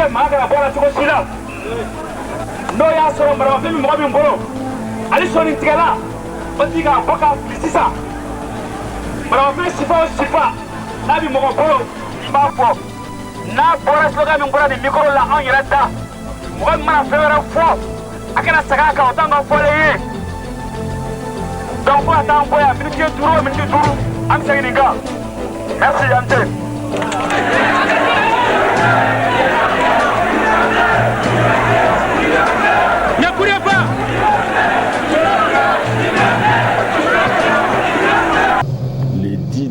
lajɛ maa kana bɔ a la cogo si la n'o y'a sɔrɔ maramafɛn bɛ mɔgɔ min bolo hali sɔnin tigɛlan o tigi k'a bɔ k'a fili sisan maramafɛn sifa o sifa n'a bɛ mɔgɔ bolo i b'a fɔ n'a bɔra slogan min bɔra nin micro la anw yɛrɛ da mɔgɔ min mana fɛn wɛrɛ fɔ a kana segin a kan o t'anw ka fɔlen ye donc fo ka taa an bɔ yan miniti duuru o miniti duuru an bɛ segin nin kan merci yan tɛ.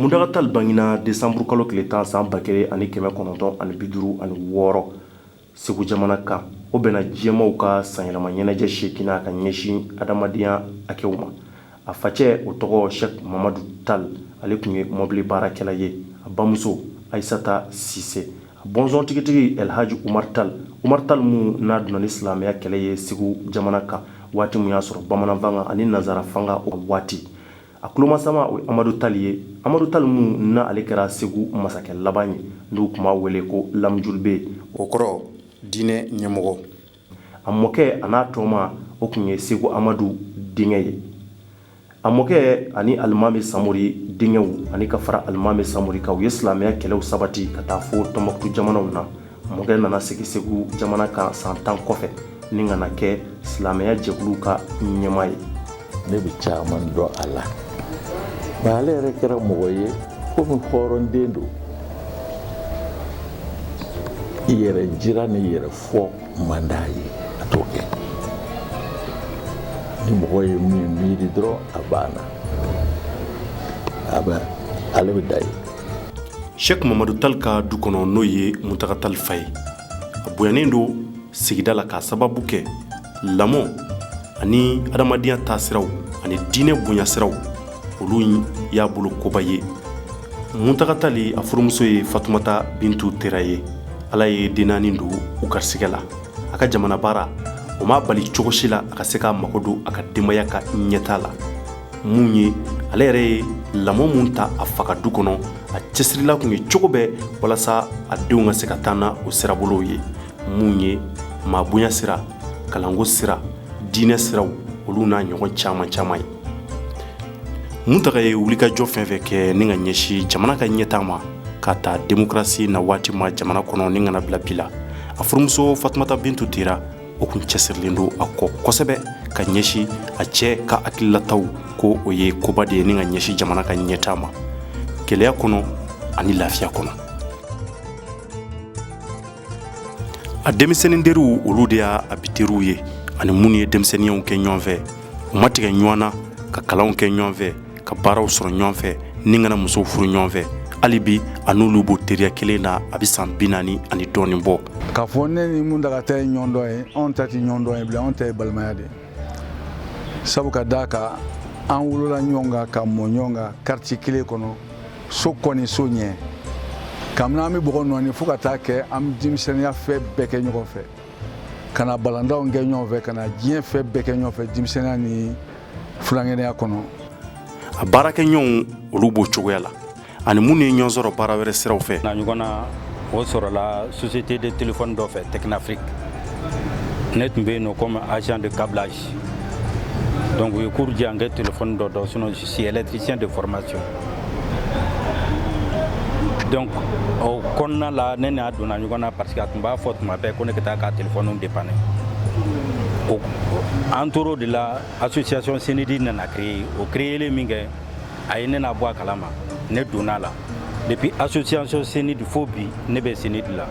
Muntaga tali bangena desanburukalo tile tan san ba kelen ani kɛmɛ kɔnɔntɔn ani bi duuru ani wɔɔrɔ segu jamana kan o bɛnna diɲɛmaaw ka sanyɛlɛma ɲɛnajɛ seeginnan ka ɲɛsin adamadenya hakɛw ma a facɛ o tɔgɔ sɛk mamadu tali ale tun ye mɔbili baarakɛla ye a bamuso ayisata sise a bɔnsɔn tigitigi alhaji umar tali umar tali min n'a donna ni silamɛya kɛlɛ ye segu jamana kan waati min y'a sɔrɔ bamananfanga ani nanzara fanga o waati A tulomasama o ye amadu tali ye amadu tali min n'a ale kɛra segu masakɛ laban ye n'u tun b'a wele ko lamujulibe o kɔrɔ diinɛ ɲɛmɔgɔ a mɔkɛ a n'a tɔma o tun ye segu amadu denkɛ ye a mɔkɛ ani alimami samori denkɛw ani ka fara alimami samori kan u ye silamɛya kɛlɛw sabati ka taa fɔ tɔnbɔkutu jamanaw na mɔkɛ nana sigi segu jamana kan san tan kɔfɛ ni ka na kɛ silamɛya jɛkulu ka ɲɛmaa ye ne bɛ caman dɔn a la nka ale yɛrɛ kɛra mɔgɔ ye komi hɔrɔnden don i yɛrɛ jira n'i yɛrɛ fɔ man d'a ye a t'o kɛ ni mɔgɔ ye min miiri dɔrɔn a banna a bɛ ale bɛ da ye sɛk mamadu tali ka du kɔnɔ n'o ye muntaga tali fa ye a bonyanen don sigida la k'a sababu kɛ lamɔ ani adamadenya ta siraw ani diinɛ bonya siraw olu y'a bolo koba ye muntaga tali a furumuso ye fatumata bintu tera ye ala ye den naani don u garisigɛ la a ka jamanabaara o m'a bali cogo si la a ka se k'a mago don a ka denbaya ka ɲɛtaa la minnu ye ale yɛrɛ ye lamɔ min ta a fa ka du kɔnɔ a cɛsirila tun ye cogo bɛɛ walasa a denw ka se ka taa na o sirabolow ye minnu ye maa bonya sira kalanko sira diinɛ siraw olu n'a ɲɔgɔn caman caman ye muntaga ye wulikajɔ fɛn fɛn kɛ ni ka ɲɛsin jamana ka ɲɛtaa ma k'a ta demokrasi na waati ma jamana kɔnɔ ni ka na bila bi la a furumuso fatumata bintu tera o tun cɛsirilen don a kɔ kosɛbɛ ka ɲɛsin a cɛ ka hakililataw ko o ye koba de ye ni ka ɲɛsin jamana ka ɲɛtaa ma gɛlɛya kɔnɔ ani lafiya kɔnɔ a denmisɛnnin teriw olu de ye a bi teriw ye ani minnu ye denmisɛnninyaw kɛ ɲɔgɔn fɛ u ma tigɛ ɲɔgɔn na ka kalanw kɛ ɲɔgɔn fɛ ka baaraw sɔrɔ ɲɔgɔn fɛ ni ka na musow furu ɲɔgɔn fɛ hali bi a n'olu b'o teriya kelen na a bɛ san bi naani ani dɔɔnin bɔ k'a fɔ ne ni muntaga ta ye ɲɔgɔndɔn ye anw ta tɛ ɲɔgɔndɔn ye bilen anw ta ye balimaya de sabu ka d'a kan an wolola ɲɔgɔn kan ka mɔ ɲɔgɔn kan quartier kelen kɔnɔ so kɔ ni so ɲɛ kabini an bɛ bɔgɔ nɔɔni fo ka taa kɛ an bɛ denmisɛnninya fɛn bɛɛ kɛ ɲɔgɔn fɛ ka na balɔntanw kɛ ɲɔgɔn fɛ ka na diɲɛ fɛn bɛɛ kɛ ɲɔgɔn fɛ denmisɛnninya ni fulankɛnɛya kɔnɔ a baarakɛɲɔgɔnw olu b'o cogoya la ani minnu ye ɲɔgɔn sɔrɔ baara wɛrɛ siraw fɛ n'a ɲɔgɔnna o sɔrɔla société de téléphone dɔ fɛ technafrique ne tun bɛ yen nɔ comme agent de câblage donc u ye cours di yan n ka téléphone dɔ dɔn sinon je suis électricien de formation donc o kɔnɔna la ne n'a donna ɲɔgɔn na parce que a tun b'a fɔ tuma bɛɛ ko ne ka taa ka telefɔniw dépanner o an tor'o de la association senidi nana créer o créerlen min kɛ a ye ne nabɔ a kalama ne donn'a la depuis association senidi fo bi ne bɛ senidi la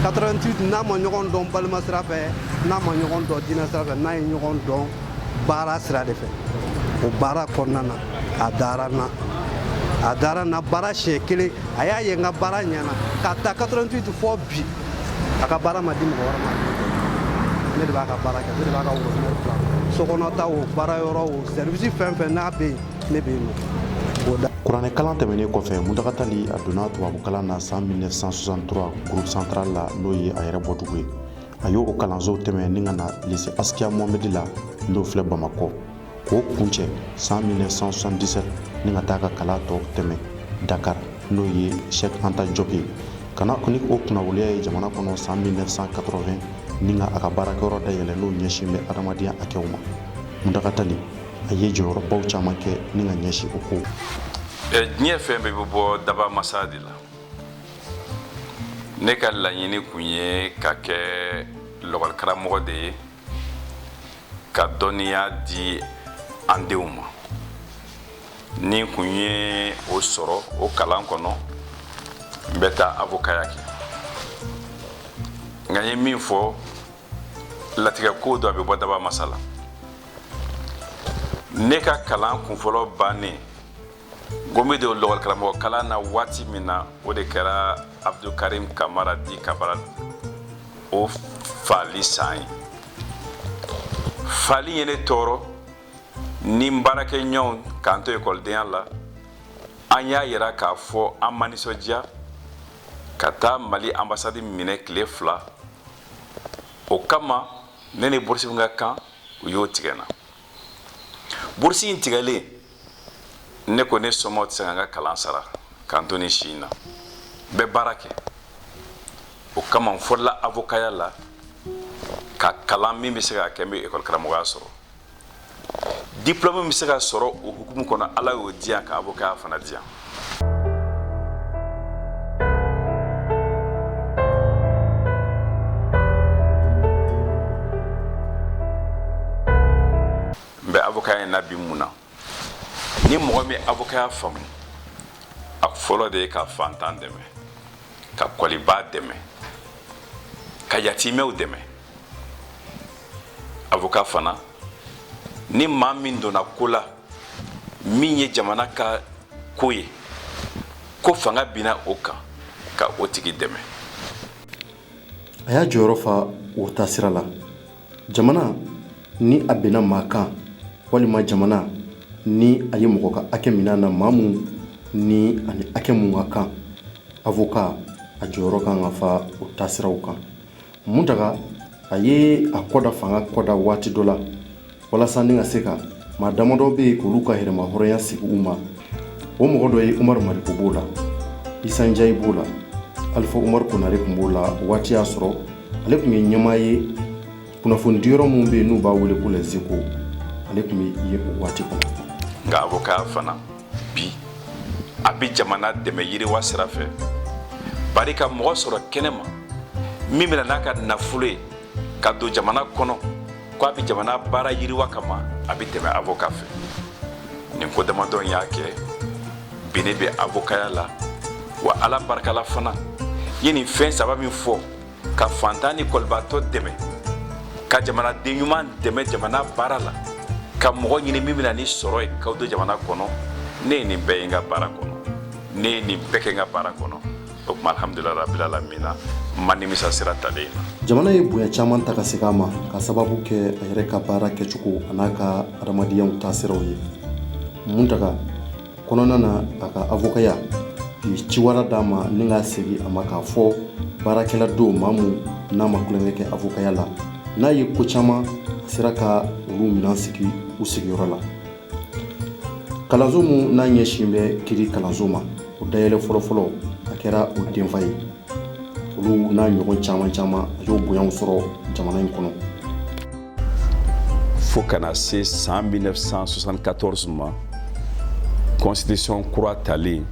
88 n'a ma ɲɔgɔn dɔn balima sira fɛ n'a ma ɲɔgɔn dɔn diinɛ sira fɛ n'a ye ɲɔgɔn dɔn baara sira de fɛ o baara kɔnɔna na a dara n na a dara n na baara siɲɛ kelen a y'a ye n ka baara ɲɛna k'a ta 88 fo bi a ka baara ma di mɔgɔ wɛrɛ ma ne de b'a ka baara kɛ ne de b'a ka worobinɛ dila sokɔnɔta o baara yɔrɔ o sɛrivisi fɛn fɛn n'a bɛ yen ne bɛ yen nɔ o da kuranɛ kalan tɛmɛnen kɔfɛ muntaga tali a donna tubabu kalan na san 1963 groupe central la n'o ye a yɛrɛ bɔdugu ye a y'o kalansow tɛmɛ ni ka na lise asikiya mohamɛdi la n'o filɛ bamakɔ k'o kuncɛ san 1977 ni ka taa ka kalan tɔ tɛmɛ dakar n'o ye shek anta jɔp ye ka na ni o kunnawoliya ye jamana kɔnɔ san 1980 ni ka a ka baarakɛyɔrɔ dayɛlɛ n'o ɲɛsin bɛ adamadenya hakɛw ma muntaga tali a ye jɔyɔrɔbaw caman kɛ ni ka ɲɛsin o kow diɲɛ fɛn bɛɛ bɛ bɔ dabaa masa de la ne ka laɲini tun ye ka kɛ lakɔlikaramɔgɔ de ye ka dɔnniya di an denw ma ni kun ye o sɔrɔ o kalan kɔnɔ n bɛ taa avokaya kɛ nka n ye min fɔ latigɛ ko don a bɛ bɔ dabaa masa la ne ka kalan kunfɔlɔ bannen n bɛ don lakɔli karamɔgɔ kalan na waati min na o de kɛra abudul karimu kamara di kabarali o fali san ye fali ye ne tɔɔrɔ ni baarakɛɲɔgɔn k'an to ekɔlidenya la an y'a jira k'a fɔ an ma nisɔndiya ka taa mali anbasadi minɛ tile fila o kama ne ni burusi min ka kan u y'o tigɛ n na burusi in tigɛlen ne ko ne somɔgɔw tɛ se ka n ka kalan sara k'an to ne si in na n bɛ baara kɛ o kama n fɔlɔla avokaya la ka kalan min bɛ se ka kɛ n bɛ ekɔli karamɔgɔya sɔrɔ diplɔmu min bɛ se ka sɔrɔ o hukumu kɔnɔ ala y'o diya n ka avokaya fana diya n bɛ avokaya in na bi mun na ni mɔgɔ min avokaya faamu a fɔlɔ de ye ka fantan dɛmɛ ka kɔlibaa dɛmɛ ka yatimɛw dɛmɛ avoka fana ni maa min donna ko la min ye jamana ka ko ye ko fanga binna o kan ka o tigi dɛmɛ a y'a jɔyɔrɔ fa o taasira la jamana ni a binna maa kan walima jamana ni a ye mɔgɔ ka hakɛ mina a na maa min ni a ni hakɛ min ka kan avoka a jɔyɔrɔ kan ka fa o taasiraw kan muntaga a ye a kɔda fanga kɔda waati dɔ la walasa ne ka se ka maa damadɔ bɛ yen k'olu ka yɛrɛmahɔrɔnya segin u ma o mɔgɔ dɔ ye umaru mariko b'o la isa njayi b'o la alifa umaru konare tun b'o la waati y'a sɔrɔ ale tun ye ɲɛmaa ye kunnafoni di yɔrɔ minnu bɛ yen n'u b'a wele ko lɛzeko ale tun bɛ yen o waati kɔnɔ nka avoka fana bi a bɛ jamana dɛmɛ yiriwa sira fɛ bari ka mɔgɔ sɔrɔ kɛnɛ ma min bɛna n'a ka nafolo ye ka don jamana kɔnɔ k'a bɛ jamana baara yiriwa kama a bɛ tɛmɛ avoka fɛ nin ko damadɔ in y'a kɛ bi ne bɛ avokaya la wa ala barikala fana ye nin fɛn saba min fɔ ka fantan ni kɔlibaatɔ dɛmɛ ka jamanaden ɲuman dɛmɛ jamana baara la ka mɔgɔ ɲini min bɛna ni sɔrɔ ye k'a don jamana kɔnɔ ne ye nin bɛɛ ye n ka baara kɔnɔ ne ye nin bɛɛ kɛ n ka baara kɔnɔ o tuma alhamdulila rabila alamina n ma nimisa sira talen in na jamana ye bonya caman ta ka segin a ma ka sababu kɛ a yɛrɛ ka baara kɛcogo an'a ka adamadenya taasiraw ye muntaga kɔnɔna na a ka avokaya u ye ciwara d'a ma ni k'a segin a ma k'a fɔ baarakɛla don maa min n'a ma kulonkɛ kɛ avokaya la n'a ye ko caman a sera ka olu minan sigi u sigiyɔrɔ la kalanso min n'a ɲɛsin bɛ kiri kalanso ma o dayɛlɛn fɔlɔfɔlɔ a kɛra o denfa ye olu n'a ɲɔgɔn caman caman a y'o bonyaw sɔrɔ jamana in kɔnɔ fo ka na se san 1974 ma constitution kura talen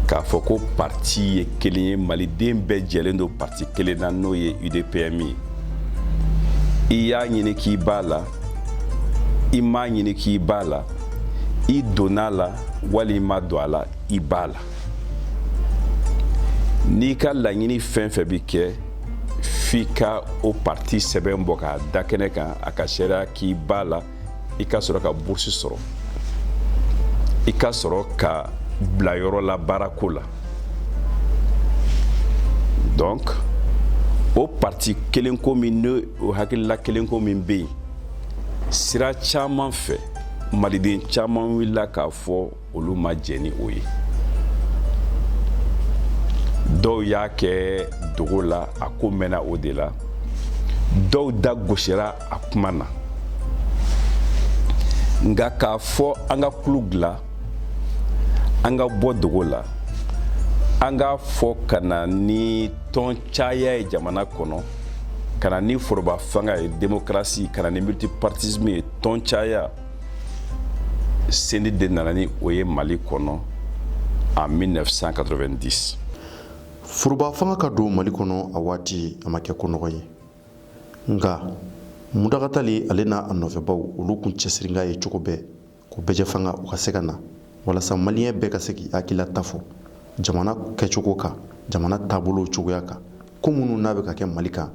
k'a fɔ ko parti ye kelen ye maliden bɛɛ jɛlen don parti kelen na n'o ye udpm ye i y'a ɲini k'i b'a la i m'a ɲini k'i b'a la i donna la wali i ma don a la i b'a la n'i ka laɲini fɛn fɛn bɛ kɛ f'i ka o parti sɛbɛn bɔ k'a da kɛnɛ kan a k'a seereya k'i b'a la i ka sɔrɔ ka bourse sɔrɔ i ka sɔrɔ ka bila yɔrɔ la baarako la donc o parti kelen ko min ne o hakilila kelenko min bɛ yen sira caman fɛ maliden caman wulila k'a fɔ olu ma jɛn ni o ye dɔw y'a kɛ dogo la a ko mɛnna o de la dɔw da gosira a kuma na nka k'a fɔ an ka kulu dilan an ka bɔ dogo la an k'a fɔ ka na ni tɔn caya ye jamana kɔnɔ ka na ni foroba fanga ye demokarasi ka na ni multipartisme ye tɔn caya cnid de nana ni o ye mali kɔnɔ en 1990 foroba fanga ka don mali kɔnɔ a waati a ma kɛ ko nɔgɔn ye nka muntaga tali ale n'a nɔfɛbaw olu kun cɛsirikan ye cogo bɛɛ ko bɛɛjɛ fanga o ka se ka na walasa maliyɛn bɛɛ ka se k'i hakililata fɔ jamana kɛcogo kan jamana taabolo cogoya kan ko minnu n'a bɛ ka kɛ mali kan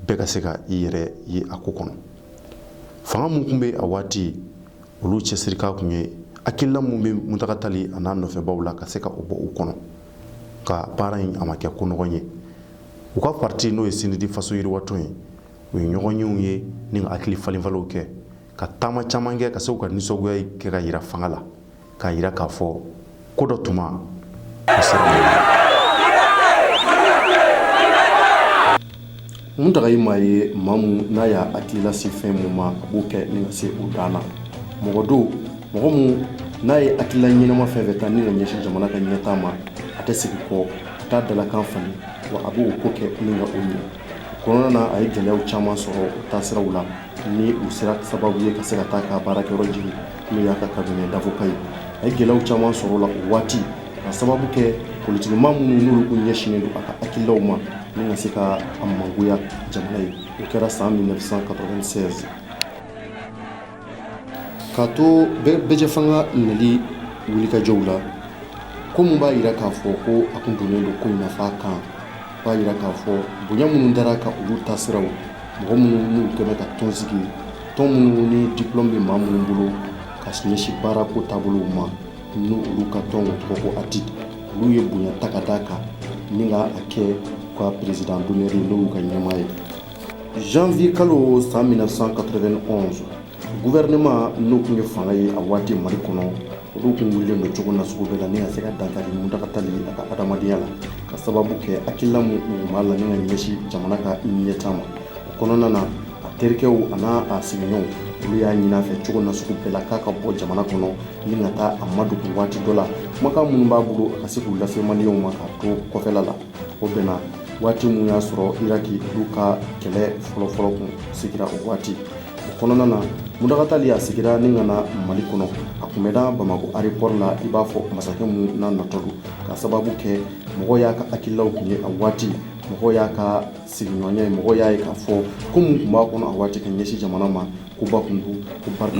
bɛɛ ka se ka i yɛrɛ ye a ko kɔnɔ fanga min tun bɛ a waati olu cɛsirikan tun ye hakilila min bɛ muntaga tali an'a nɔfɛbaw la ka se ka o bɔ u kɔnɔ nka baara in a ma kɛ ko nɔgɔn ye u ka parti n'o ye cnid faso yiriwatɔn ye u ye ɲɔgɔnyew ye ni ka hakili falenfalenw kɛ ka taama caman kɛ ka se ka nisɔngoya kɛ ka yira fanga la k'a yira k'a fɔ ko dɔ tuma muntaga ye maa ye maa min n'a y'a hakilila sin fɛn mun ma a b'o kɛ ni ka se o dan na mɔgɔ don mɔgɔ min n'a ye hakilila ɲɛnama fɛn fɛn ta ni ka ɲɛsin jamana ka ɲɛtaa ma a tɛ segin kɔ a t'a dalakan falen wa a b'o ko kɛ ni ka o ɲɛ Kɔnɔna na a ye gɛlɛya caman sɔrɔ taasiraw la ni u sera sababu ye ka se ka taa a ka baarakɛyɔrɔ jeni n'o y'a ka cabinet d'avocat ye a ye gɛlɛyaw caman sɔrɔ o la o waati ka sababu kɛ politique maa minnu n'olu tun ɲɛsinnen don a ka hakililaw ma ni ka se ka a mangoya jamana ye o kɛra san 1996 K'a to bɛɛjɛfanga nali wulikajɔw la ko minnu b'a jira k'a fɔ ko a tun don don ko nafa kan b'a jira k'a fɔ bonya minnu dara a kan olu taasira mɔgɔ minnu kɛmɛ ka tɔn sigi tɔn minnu ni diplôme bɛ maa minnu bolo ka ɲɛsin baarako taabolow ma ni olu ka tɔn tɔgɔ ko ADIDE olu ye bonya ta ka da a kan ni k'a kɛ u ka président d'honneur ni olu ka ɲɛmaa ye Janvier kalo san 1991 gouvernement n'o tun ye fanga ye a waati Mali kɔnɔ, olu tun wulilen don cogo nasugu bɛɛ la ni ka se ka dankari Muntaga Tali a ka adamadenya la, ka sababu kɛ hakilila min tun b'a la ni ka ɲɛsin jamana ka ɲɛtaa ma. O kɔnɔna na, a terikɛw an'a sigiɲɔɔnw, olu y'a ɲini a fɛ cogo nasugu bɛɛ la k'a ka bɔ jamana kɔnɔ ni ka taa a madogo waati dɔ la, kumakan minnu b'a bolo a ka se k'u lase maliyɛnw ma k'a to kɔfɛla la. o bɛnna waati min y'a sɔrɔ iraki olu ka kɛlɛ fɔlɔfɔlɔ kun sigira o waati o kɔnɔna na muntaga tali a seginna ni ka na mali kɔnɔ a kunbɛnna bamakɔ arepɔri la i b'a fɔ masakɛ min na natɔ don ka sababu kɛ mɔgɔ y'a ka hakililaw kun ye a waati mɔgɔ y'a ka sigiɲɔgɔnya ye mɔgɔ y'a ye k'a fɔ ko min tun b'a kɔnɔ a waati ka ɲɛsin jamana ma koba tun don ko barika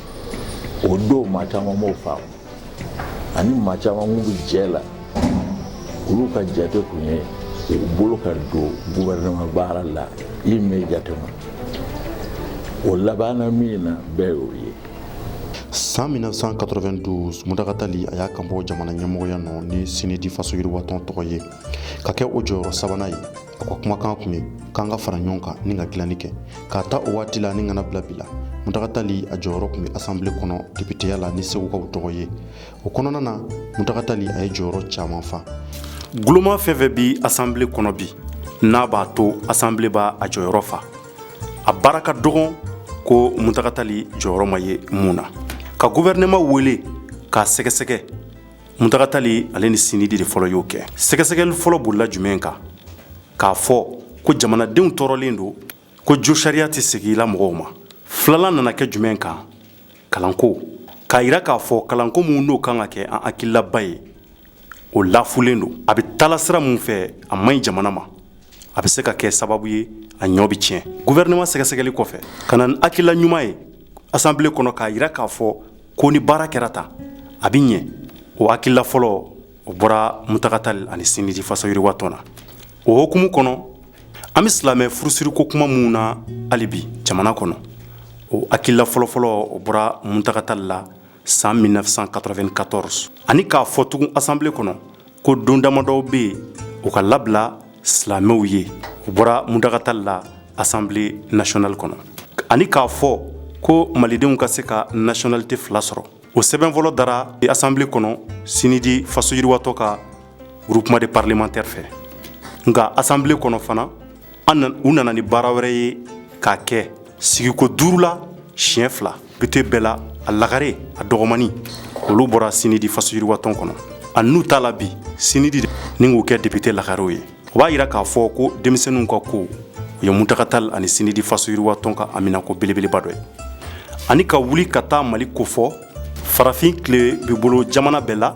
o don maa caman b'o faamu ani maa caman minnu bɛ jɛ la olu ka jate tun ye u bolo ka don gouvernement baara la immédiatement o labanna min na bɛɛ y'o ye san 1992 muntaga tali a y'a kanbɔ jamana ɲɛmɔgɔya nɔ ni sinidi faso yiriwatɔn tɔgɔ ye ka kɛ o jɔyɔrɔ sabanan ye a ka kumakan tun ye k'an ka fara ɲɔgɔn kan ni ka dilanni kɛ k'a ta o waati la ni ka na bila bi la muntaga tali a jɔyɔrɔ tun bɛ asanbile kɔnɔ depiteya la ni segukaw tɔgɔ ye o kɔnɔna na muntaga tali a ye jɔyɔrɔ caman fa guloma fɛn fɛn bɛ asanbile kɔnɔ bi n'a b'a to asanbile b'a jɔyɔrɔ fa a baara ka dɔgɔn ko muntaga tali jɔyɔrɔ ma ye mun na ka guvɛrɛnɛma wele k'a sɛgɛsɛgɛ Muntaga Tali ale ni sinidi de fɔlɔ y'o kɛ sɛgɛsɛgɛli fɔlɔ bolila jumɛn kan k'a fɔ ko jamanadenw tɔɔrɔlen don ko josariya tɛ segin na mɔgɔw ma filanan nana kɛ jumɛn kan kalanko k'a jira k'a fɔ kalanko min n'o kan ka kɛ an hakililaba ye o lafulen don a bɛ taa la sira min fɛ a man ɲi jamana ma a bɛ se ka kɛ sababu ye a ɲɔ bɛ tiɲɛ guvɛrinama sɛgɛsɛgɛli kɔfɛ ka na hakilila ɲuman ye asanbile kɔnɔ k'a jira k'a fɔ ko ni baara kɛra tan a bɛ ɲɛ o hakilila fɔlɔ o bɔra Muntaga Tali ani sinidi faso yiriwa tɔn na o hokumu kɔnɔ an bɛ silamɛ furusiriko kuma minnu na hali bi jamana kɔnɔ o hakilila fɔlɔfɔlɔ o bɔra Muntaga Tali la san 1994 ani k'a fɔ tugun asanbile kɔnɔ ko don damadɔw bɛ yen o ka labila silamɛw ye o bɔra Muntaga Tali la asanbile nasiyɔnali kɔnɔ ani k'a fɔ ko malidenw ka se ka nasiyɔnalite fila sɔrɔ o sɛbɛn fɔlɔ dara asanbile kɔnɔ sinidi faso yiriwatɔn ka groupe de parlementaires fɛ nka asanbile kɔnɔ fana u nana ni baara wɛrɛ ye k'a kɛ sigiko duuru la siɲɛ fila depite bɛɛ la a lagare a dɔgɔmani olu bɔra sinidi faso yiriwatɔn kɔnɔ a n'u t'a la bi sinidi ni k'u kɛ depite lagarew ye o b'a jira k'a fɔ ko denmisɛnninw ka ko o ye Muntaga Tali ani sinidi faso yiriwatɔn ka haminanko belebeleba dɔ ye ani ka wuli ka taa mali ko fɔ farafin tilebin bolo jamana bɛɛ la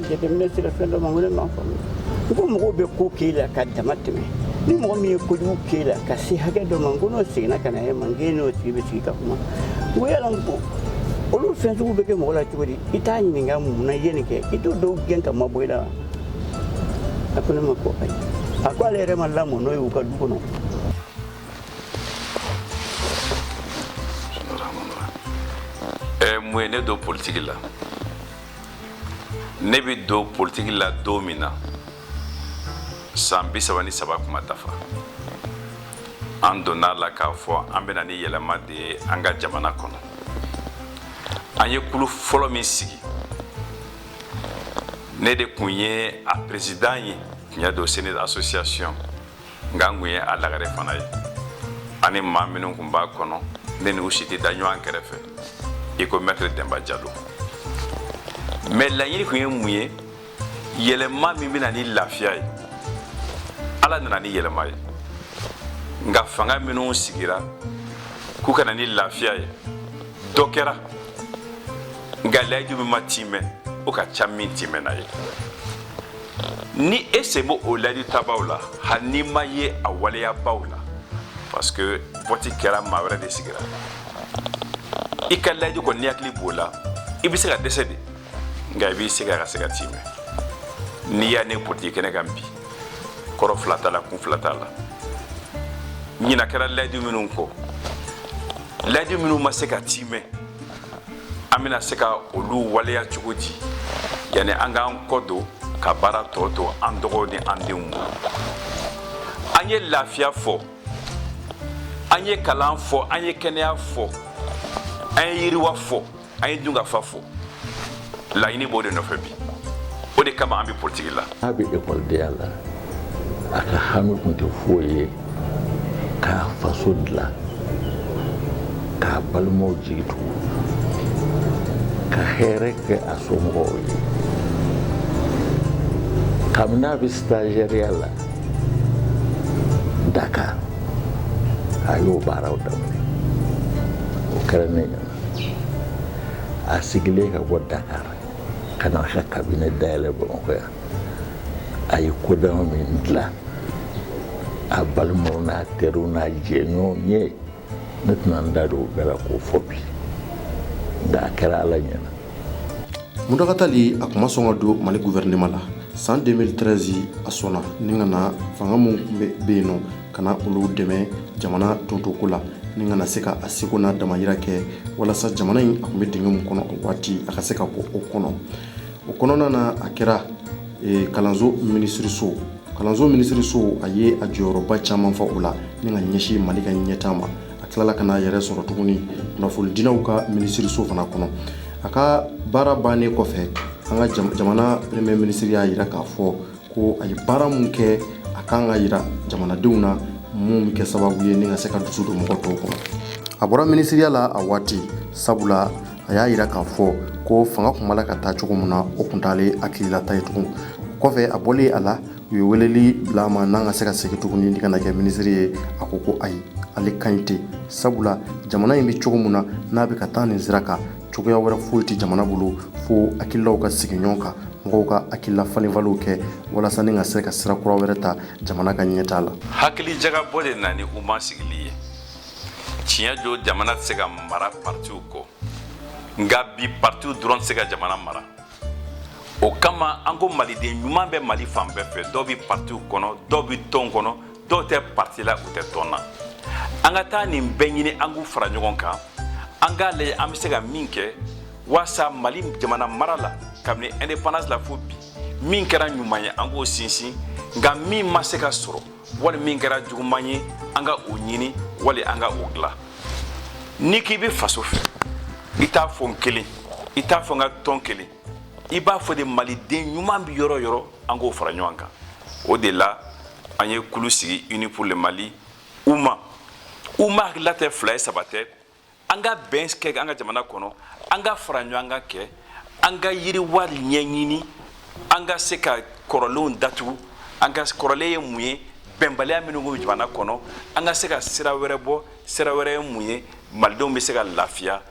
Jateminɛ sira fɛn dɔw ma wele ma faamu u ko mɔgɔw bɛ ko k'e la ka dama tɛmɛ ni mɔgɔ min ye kojugu k'e la ka se hakɛ dɔ ma ko n'o seginna ka na e ma k'e n'o tigi bɛ sigi ka kuma u ko yala ko olu fɛn sugu bɛ kɛ mɔgɔ la cogo di i t'a ɲininka mun na i ye nin kɛ i t'o dɔw gɛn ka mabɔ i la wa a ko ne ma ko ayi a ko ale yɛrɛ ma lamɔ n'o ye u ka du kɔnɔ mun ye ne don politiki la ne bɛ don politiki la don min na san bi saba ni saba kun ma dafa an donna a la k'a fɔ an bɛna ni yɛlɛma de ye an ka jamana kɔnɔ an ye kulu fɔlɔ min sigi ne de tun ye a peresidan ye tiɲɛ don sinidi association nka n kun ye a lagare fana ye ani maa minnu kun b'a kɔnɔ ne n'u si tɛ da ɲɔgɔn kɛrɛfɛ i ko mɛtiri Denba Jalo mɛ laɲini kun ye mun ye yɛlɛma min bɛna ni lafiya ye ala nana ni yɛlɛma ye nka fanga minnu sigira k'u ka na ni lafiya ye dɔ kɛra nka layidu min ma timɛ o ka ca min timɛna ye ni e sen b'o layidutabaw la hali n'i ma ye a waleyabaw la parce que wote kɛra maa wɛrɛ de sigira i ka layidu kɔni n'i hakili b'o la i bɛ se ka dɛsɛ de nka i b'i se kɛ ka se k'a tiimɛ n'i ye ne politiki kɛnɛ kan bi kɔrɔ fila t'a la kun fila t'a la ɲina kɛra layidu minnu kɔ layidu minnu ma se ka tiimɛ an bɛna se ka olu waleya cogo di yanni an k'an kɔ don ka baara tɔ to an dɔgɔw ni an denw ma an ye lafiya fɔ an ye kalan fɔ an ye kɛnɛya fɔ an ye yiriwa fɔ an ye dunkafa fɔ laɲini b'o de nɔfɛ bi o de kama an bɛ politiki la a bɛ ekɔlidenya la a ka hami tun tɛ foyi ye k'a faso dilan k'a balimaw jigi tugu ka hɛrɛ kɛ a somɔgɔw ye kabini a bɛ sitazɛriya la dakar a y'o baaraw daminɛ o kɛra ne ɲɛna a seginnen ka bɔ dakar ka na ka kabine dayɛlɛ bamakɔ yan a ye ko dama min dilan a balimaw n'a teriw n'a jɛɲɔgɔn ye ne tɛna n da don o bɛɛ la k'o fɔ bi nka a kɛra ala ɲɛna muntaga tali a tun ma sɔn ka don mali guvɛrɛnema la san 2013 a sɔnna ni ka na fanga min bɛ yen nɔ ka na olu dɛmɛ jamana topotoko la ni ka na se ka a seko n'a damayira kɛ walasa jamana in a tun bɛ dingɛ min kɔnɔ o waati a ka se ka bɔ o kɔnɔ o kɔnɔna na a kɛra e, kalanso minisiriso kalanso minisiriso a ye a jɔyɔrɔba caman fa o la ni ka ɲɛsin mali ka ɲɛtaa ma a tilala ka n'a yɛrɛ sɔrɔ tuguni kunnafonidilaw ka minisiriso fana kɔnɔ a ka baara bannen kɔfɛ an ka jamana premier minisiri y'a jira k'a fɔ ko a ye baara min kɛ a ka kan ka jira jamanadenw na minnu bɛ kɛ sababu ye ni ka se ka dusu don mɔgɔ tɔw kɔnɔ a bɔra minisiriya la a waati sabula a y'a jira k'a fɔ ko fanga tun b'a la ka taa cogo min na o tun t'ale hakililata ye tugun o kɔfɛ a bɔlen a la u ye weleli bila a ma n'a ka se ka segin tuguni ni ka na kɛ minisiri ye a ko ko ayi ale kan ɲi tɛ sabula jamana in bɛ cogo min na n'a bɛ ka taa nin sira kan cogoya wɛrɛ foyi tɛ jamana bolo fo hakilaw ka sigi ɲɔgɔn kan mɔgɔw ka hakilila falenfaliw kɛ walasa ni ka se ka sira kura wɛrɛ ta jamana ka ɲɛtaa la hakili jagabɔ de nana ni uma sigili ye tiɲɛ don jamana tɛ se ka mara partiw kɔ nka bi partiw dɔrɔn tɛ se ka jamana mara o kama an ko maliden ɲuman bɛ mali fan bɛɛ fɛ dɔw bɛ partiw kɔnɔ dɔw bɛ tɔn kɔnɔ dɔw tɛ parti la u tɛ tɔn na an ka taa nin bɛɛ ɲini an k'u fara ɲɔgɔn kan an k'a lajɛ an bɛ se ka min kɛ waasa mali jamana mara la kabini indépendance la fo bi min kɛra ɲuman ye an k'o sinsin nka min ma se ka sɔrɔ wali min kɛra juguman ye an ka o ɲini wali an ka o dilan n'i k'i bɛ faso fɛ i t'a fɔ n kelen i t'a fɔ n ka tɔn kelen i b'a fɔ de maliden ɲuman bɛ yɔrɔ yɔrɔ an k'o fara ɲɔgɔn kan o de la an ye kulu sigi unis pour le mali uma uma hakilila tɛ fila ye saba tɛ an ka bɛn kɛ an ka jamana kɔnɔ an ka fara ɲɔgɔn kan kɛ an ka yiriwa ɲɛɲini an ka se ka kɔrɔlenw datugu an ka kɔrɔlen ye mun ye bɛnbaliya minnu bɛ jamana kɔnɔ an ka se ka sira wɛrɛ bɔ sira wɛrɛ ye mun ye malidenw bɛ se ka lafiya